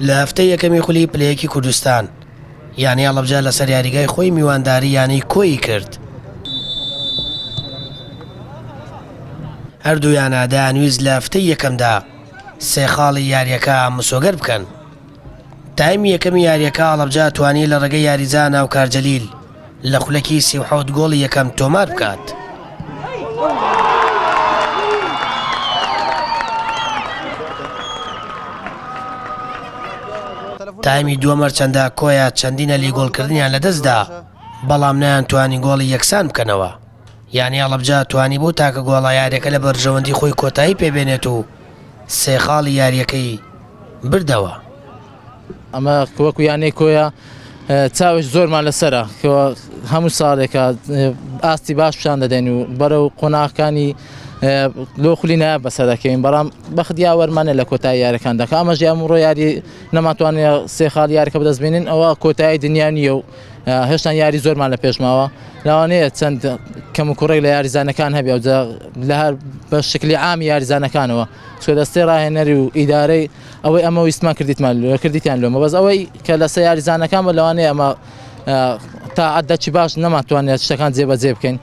لە هەفتەی یەکەمی خولی پلەیەکی کوردستان یانی ئەڵەبجە لەسەر یاریگای خۆی میوانداری یانی کۆی کرد هەردوویانە دەیانویست لە هەفتەی یەکەمدا سێ خاڵی یاریەکە مسۆگەر بکەن تایم یەکەمی یاریەکە ئاڵبجا توانی لە ڕێگە یاریزان و کارجەلیل لە خولەکی سی و حەوت گۆڵی یەکەم تۆمار بکات. تایمی دووە مەرچەندە کۆیە چەندینە لی گۆڵکردنیان لە دەستدا بەڵام نیان توانی گۆڵی یەکسان بکەنەوە یانی ئەڵبجا توانی بۆ تاکە گۆڵە یاریەکە لە بەرژەوەندی خۆی کۆتایی پێبێنێت و سێخاڵی یاریەکەی بردەوە. ئەمە وەکو یانەی کۆیە چاوێک زۆرمان لەسرە هەموو ساڵێکە ئاستی باش پیشان دەدەین و بەرە و قۆناغەکانی لۆ خولی نایە بەسە دەکەین بەڵام بەخت یاوەرمانە لە کۆتا یارەکان دەکە ئەمەژ ئەم ڕۆ یاری نەماتوانێت سێ خاڵ یارەکە بەدەستبێنین ئەوە کۆتایی دنیا نیە و هێشتان یاری زۆرمان لە پێشماوە لاوانەیە چەند کەم و کوڕێک لە یاریزانەکان هەبێ لە هەر بە شکلی عامی یاریزانەکانەوە چکە دەستەی ڕاهێنەری و ئیدارەی ئەوەی ئەمە ویستمان کردیتمان لێ کردیتیان لۆمە بەس ئەوەی کە لەسەر یاریزانەکان بە لەوانەیە ئەمە تا عدەچی باش نەماتوانێت شتەکان جێبەجێ بکەین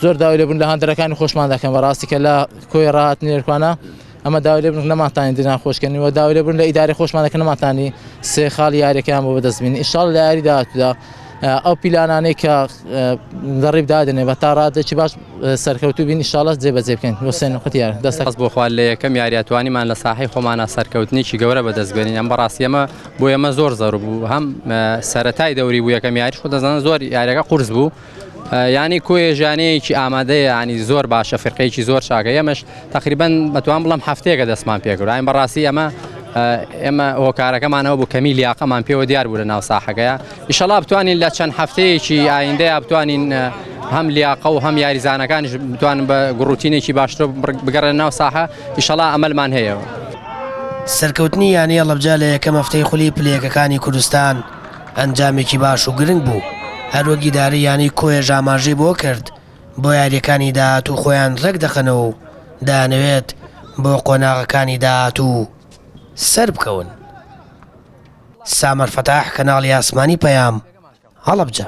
زۆر داوای لەبوون لە هەندەرەکانی خۆشمان دەکەن بە ڕاستی کە لە کۆی ڕات نێرکانە ئەمە داوای لەبن نەماتانی دنان خۆشکەنی و داوای لەبوون لە ئیداری خۆشمانەکە نەماتانی سێ خاڵ یاریەکەیان بۆ بەدەستبین ئیشال لە یاری داهاتودا ئەو پیلانانەی کە دەڕیب دادنێ بە تا ڕادێکی باش سەرکەوتوو بین شڵەت جێبەجێ بکەین وسێن قوتیار دەست خەست بۆ خوارد لە یەکەم یاریاتوانیمان لە ساحی خۆمانە سەرکەوتنیی گەورە بەدەست بێنین ئەم بەڕاستیەمە بۆ ئەمە زۆر زەر بوو هەم سەتای دەوری بوو یەکەم یاریش خۆ دەزانن زۆر یاریەکە قرس بوو ینی کۆێژانەیەکی ئامادەیە ینی زۆر باشە فرقەیەکی زۆر چاکە ئەمەش تقریبان بەتوان بڵم هەفتەیەکە دەستمان پێکراین بەڕاستی ئەمە ئێمە هۆکارەکەمانەوە بوو کەمی لیاقەمان پێوە دیار بوو لە ناو ساحەکەیە ئیشەڵا بتوانین لە چەند هەفتەیەکی ئایندەیا بتوانین هەم لیاقە و هەم یاریزانەکانش بتوانن بە گوڕوتینێکی باشتر بگەڕێن ناو ساحە ئیشەڵا ئەمەلمان هەیە. سەرکەوتنی یانەی هەڵەبجە لە یەکەم هەفتەی خولی پلە یەکەکانی کوردستان ئەنجامێکی باش و گرنگ بوو، هەروەک ئیدارەی یانەی کۆیەش ئاماژەی بۆ کرد، بۆ یارییەکانی داهاتوو خۆیان رێکدەخەنەوە و دەیانەوێت بۆ قۆناغەکانی داهاتوو سەربکەون. سامەر فەتاح کەناڵی ئاسمانی پەیام هەڵەبجە.